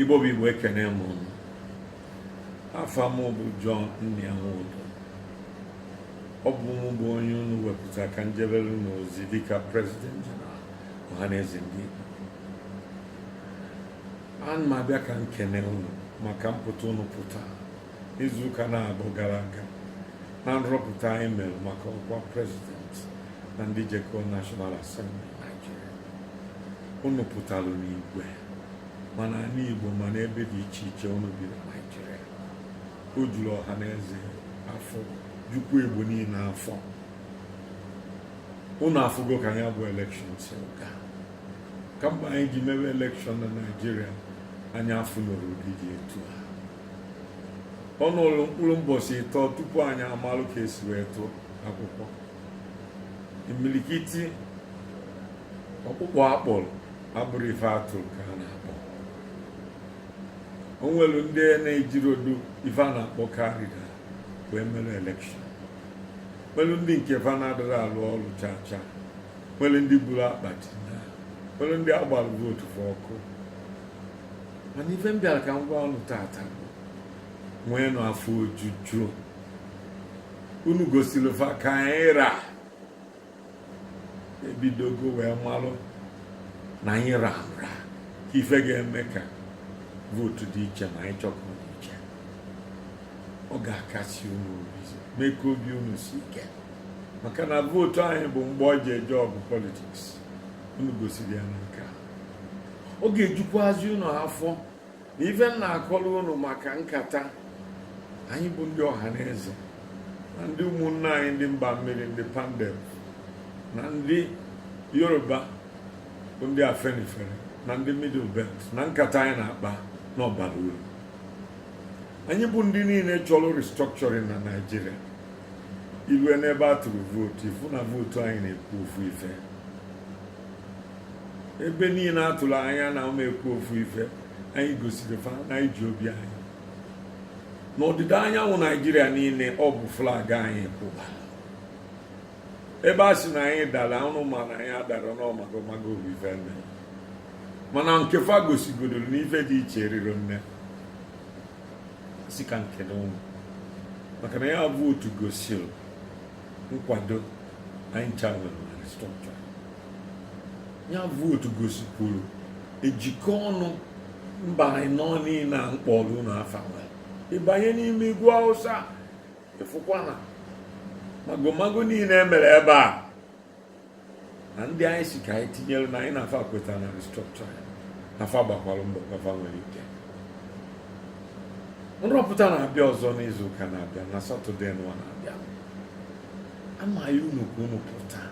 Igbo bụ Igbo ekene m unu afa m bụ John Nnia Nwodo ọ bụ mụ bụ onye unu wepụta ka m jebere unu ozi dịka prezident jeneral ọhaneze ndị Igbo ana m abịa ka m kene unu maka mpụta unu pụta izuụka naabọ gara aga na nrọpụta anyị mere maka ọkwa prezident na ndị jeko National Assembly Nigeria unu pụtara n'igwe ma n'ani Igbo ma n'ebe dị iche iche unu bi na Naịjirịa o juru ọha na eze afọ jukwuo Igbo niile afọ unu afụgo ka ya bụ elekshọn si gaa kamgbe anyị ji mewe elekshọn na Naịjirịa anyị afụnurọ ụdị dị etu a ọ nọrọ mkpụrụ mbọchị ịtọ tupu anyị amalụ ka e si wee tụọ akwụkwọ imilikiti ọkpụkpọ a kpọrọ abụrọ ife a tụrụ ka a na-akpọ o nwere ndị na-ejirodu ife a na-akpọ card reader wee mere elekshọn nwere ndị nke fa na-adịrọ alụ ọrụ chaa chaa nwere ndị buru akpati nwere ndị a gbara vootu fa ọkụ mana ife m bịara ka m gwa unu tata nweenụ afọ ojuju unu gosiri fa ka anyị ra ebidogo wee malụ na anyị ra nra ka ife ga-eme ka vootu dị iche ma anyị chọọ ka ọ dị iche ọ ga-akasi unu obi mee ka obi unu si ike maka na vootu anyị bụ mgbọ e ji eje ọgụ politiks unu gosiri ya na nke a ọ ga-ejukwazi unu afọ na ife m na-akọrọ unu maka nkata anyị bụ ndị ọha na eze na ndị ụmụnne anyị ndị mba mmiri ndị pandef na ndị yoruba bụ ndị afenifere na ndị middle belt na nkata anyị na-akpa na ọ bara uru anyị bụ ndị niile chọrọ restructuring na naijiria i lue n'ebe a tụrụ vootu ị fụ na vootu anyị na-ekwu ofu ife ebe niile a tụrụ anya na ọ ma ekwu ofu ife anyị gosiri fa na anyị ji obi anyị n'ọdịda anyanwụ naijiria niile ọ bụ flag anyị kwụba ebe a sị na anyị dara unu ma na anyị adarọ na ọ magomago bụ ife nne mana nke fa gosigodoro na ife dị iche erirọ nne sị ka m kene unu maka na ya bụ vootu gosiri nkwado anyị ncha nwere na restructure ya vootu gosikwuru njikọ ọnụ mba ịnọ niile a m kpọrọ unu afa nwere ị banye n'ime ugwu hausa ị fụkwa na magomago niile e mere ebe a na ndị anyị si ka anyị tinyere na anyị na fa kwetara na restructure na fa gbakwara mbọ ka fa nwere ike nrọpụta na-abịa ọzọ n'izu ụka na-abịa na satọde nwa na-abịa ana m ayọ unu ka unu pụta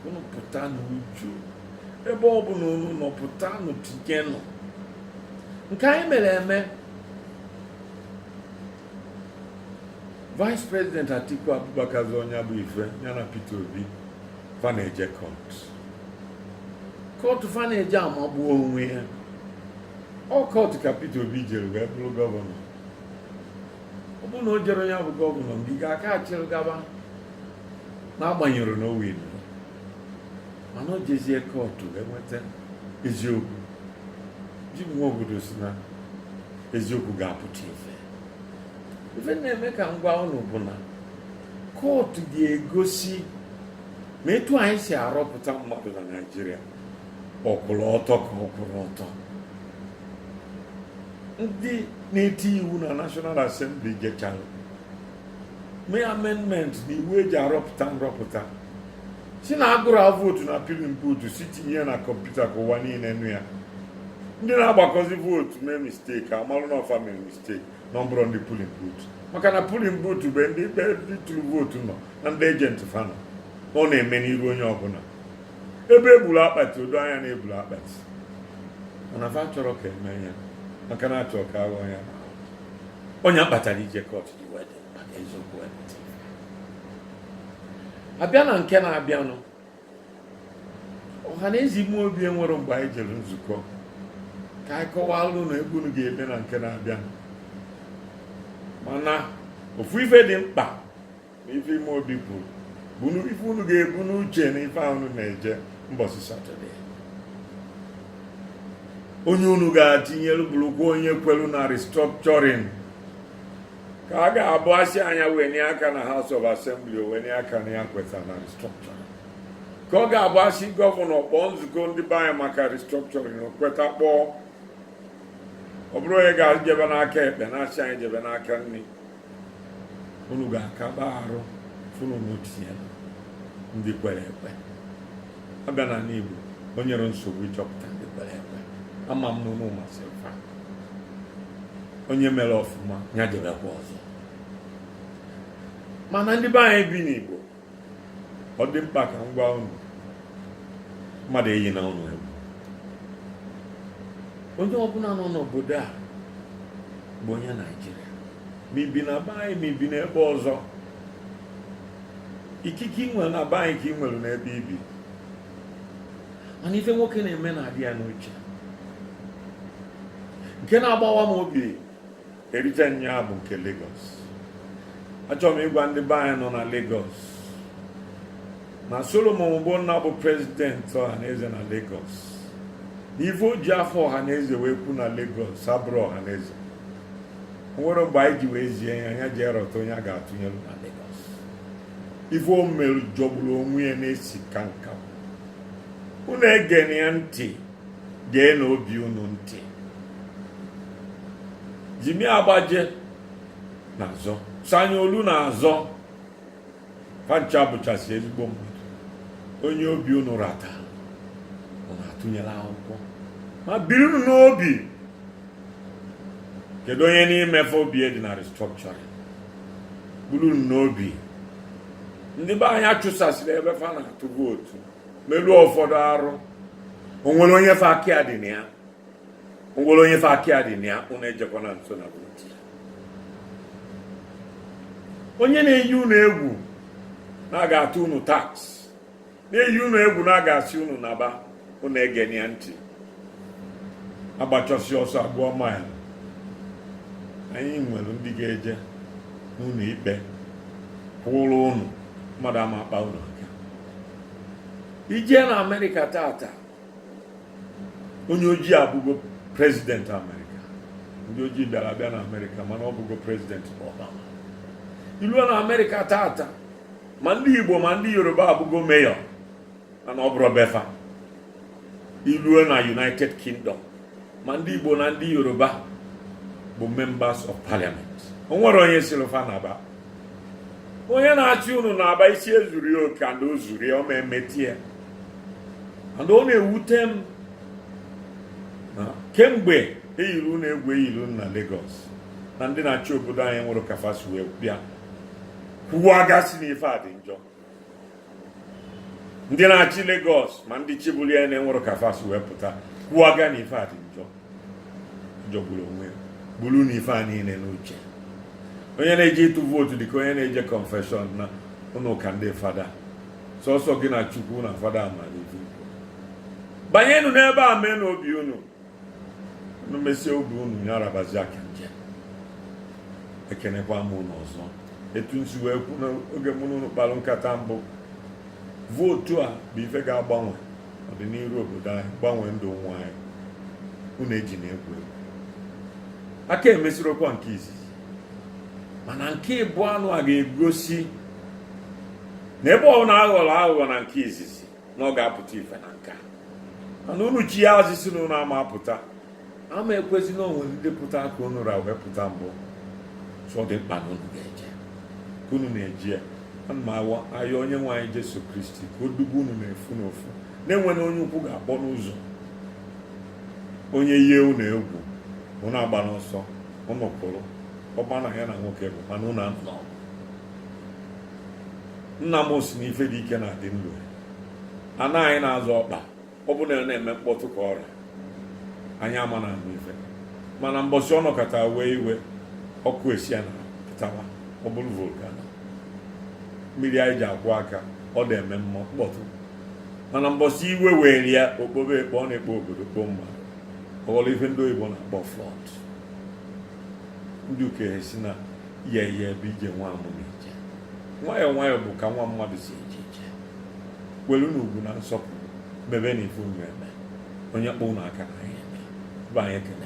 unu pụta n'uju ebe ọ bụla unu nọ pụtanụ tinyenụ nke anyị mere eme Vice President Atiku Abubakar zọ ọ nya bụ ife ya na Peter Obi fa na-eje kọt kọt fa na-eje amagbu onwe ya ọ kọt ka Peter Obi jere wee bụrụ gọvanọ ọ bụrụ na o jerọ nya bụ gọvanọ Ngige aka achịrị gaba n'agbanyerọ na o winirọ mana o jezie kọtụ enweta eziokwu Jim Nwobodo si na eziokwu ga-apụta ife ife na-eme ka m gwa unu bụ na kọtụ ga-egosi ma etu anyị si arọpụta mmadụ na Naịjirịa ọ kwụrụ ọtọ ka ọ kwụrọ ọtọ ndị na-eti iwu na National Assembly jechara mee amendment na iwu eji arọpụta nrọpụta si na agụrụ a vootu na polling booth si tinye na kọmputa ka ụwa niile nụ ya ndị na-agbakọzi vootu mee misteki amalụ na ọ fa mere misteki na ọ bụrọ ndị polling booth maka na polling booth bụ ndị ebe ndị tụrụ vootu nọ na ndị ejenti fa nọ ọ na-eme n'iru onye ọbụla ebe eburu akpati o do anya na eburu akpati mana fa chọrọ ka eme ya maka na achọ ka aghọ ya ọ nya kpatara ije kọt ji wee dị mkpa ka eziokwu wee pụta abịa na nke na-abịanụ Ọhaneze ime obi enwere mgbe anyị jere nzukọ ka anyị kọwaara unu egwu unu ga-eme na nke na-abịanụ mana ofu ife dị mkpa na ife ime obi bụ bunu ife unu ga-ebu n'uche na ife unu na-eje mbọsị satọde onye unu ga-atinyelu bụrụkwa onye kwelu na restructuring ka a ga-abụ asị nya wenie aka na House of Assembly o wenie aka na ya kweta na restructuring ka ọ ga-abụ asị gọvanọ kpọọ nzukọ ndị be anyị maka restructuring o kweta kpọọ ọ bụrọ onye ga-ejebe n'aka ekpe na-asị anyị jebe n'aka nri unu ga-akaba arụ fụ na unu tinye ndị kwere ekwe abịa n'anị Igbo o nyerọ nsogbu ịchọpụta ndị kwere ekwe ama m na unu masịrị fa onye mere ọfụma ya jebekwa ọzọ mana ndị be anyị bi n'Igbo ọ dị mkpa ka m gwa unu mmadụ eyina unu egwu onye ọbụla nọ n'obodo a bụ onye naijiria ma i bi na be anyị ma i bi n'ebe ọzọ ikike i nwere na be anyị ka i nwere n'ebe i bi mana ife nwoke na-eme na-adị ya n'uche nke na-agbawa m obi erite nya bụ nke Lagos achọrọ m ịgwa ndị be anyị nọ na Lagos na Solomon Ogbonna bụ prezidenti ọhaneze na Lagos na ife o ji afa ọhaneze wee kwu na Lagos abụrọ ọhaneze o nwerọ mgbe anyị ji wee zie ya nya jee rọta onye a ga-atụnyere na Lagos ife o mere jọgburu onwe ya na-esi ka nkakwụ unu egena ya ntị geenụ obi unu ntị jimi agbaje na-azọ sanwo-olu na-azọ fa ncha bụchasị ezigbo mmadụ onye obi unu rọtara unu atụnyere akwụkwọ ma burunụ n'obi kedu onye n'ime fa obi dị na restructuring burunụ n'obi ndị be anyị a chụsasịrị ebe fa na-atụ vootu meluo ụfọdụ arụ o nwere onye fa aka ya dị na ya o nwere onye fa aka ya dị na ya unu ejekwana nso na vootu onye na-eyi unu egwu na a ga-atụ unu tax na-eyi unu egwu na a ga-asị unu naba unu egena ya ntị a gbachasịa ọsọ a gụọ maịlụ anyị nwere ndị ga-eje n'ụlọ ikpe kwụrụ unu mmadụ ama akpa unu aka i jee na amerịka taata onye ojii abụgo prezidenti amerịka ndị ojii bịara abịa na amerịka mana ọ bụgo prezidenti Obama i luo na amerịka taata ma ndị igbo ma ndị yoruba abụgo meyọ mana ọ bụrọ be fa i luo na united kingdom ma ndị igbo na ndị yoruba bụ members of parliament o nwere onye sịrị fa naba onye na-asị unu naba isi ezurọ ya oke and o zuru ya ọ ma emeti ya and ọ na-ewute m na kemgbe e yiri unu egwu e yiri unu na Lagos na ndị na-achị obodo anyị enwerọ ka fa si wee bịa kwuwaga sị n'ife a dị njọ ndị na-achị Lagos ma ndị chịburu ya enwerọ ka fa si wee pụta kwuwaga na ife a dị njọ jọgburu onwe ya burunụ ife a niile n'uche onye na-eje ịtụ vootu dịka onye na-eje confession na ụlọ ụka ndị fada sọsọ gị na chukwu na fada mara ife banyenụ n'ebe a meenụ obi unu unu mesie obi unu ya arabazi aka nke ekenekwa m unu ọzọ etu m si wee kwu n'oge mụ na unu kpalụ nkata mbụ vootu a bụ ife ga-agbanwe ọdịniru obodo anyị gbanwee ndụ ụmụ anyị unu ejina egwu egwu a ka emesirokwa nke izizi mana nke ịbụa nụa ga-egosi na ọ bụrụ na a ghọrọ aghụghọ na nke izizi na ọ ga-apụta ife na nke a mana unu chighaa azụ sị na unu ama apụta ama ekwezi na o nwere ndị pụta ka unu ra wee pụta mbụ so ọ dị mkpa na unu ga-eje ka unu na-eje ana m ayọ onye nwe anyị Jesu Kristi ka o dube unu n'ofu n'ofu na enwerọ onye ụkwụ ga-akpọ n'ụzọ onye yie unu egwu unu agbana ọsọ unu kwụrụ ọgba na ya na nwoke bụ mana unu anụna ọgụ nna m si na ife dị ike na-adị ndụ ana anyị na-azọ ọkpa ọ bụ na ọ na-eme mkpọtụ ka ọ ra anyị ama na-anụ ife mana mbọsị ọ nọkata wee iwe ọkụ esi ana pụtawa ọ bụrụ volcano mmiri anyị ji akwọ aka ọ da eme mm mkpọtụ mana mbọsị iwe were ya o kpobe ekpo ọ na-ekpo obodo kpoo mmadụ ọ ghọrọ ife ndị oyibo na-akpọ flood ndị okenye sị na yeye bụ ije nwa mmụọ na-eje nwayọọ nwayọọ bụ ka nwa mmadụ si eje ije welunụ ugwu na nsọpụrụ mebenụ ife unu eme onye kpọ unu aka n'anya eme bụ anyị ekene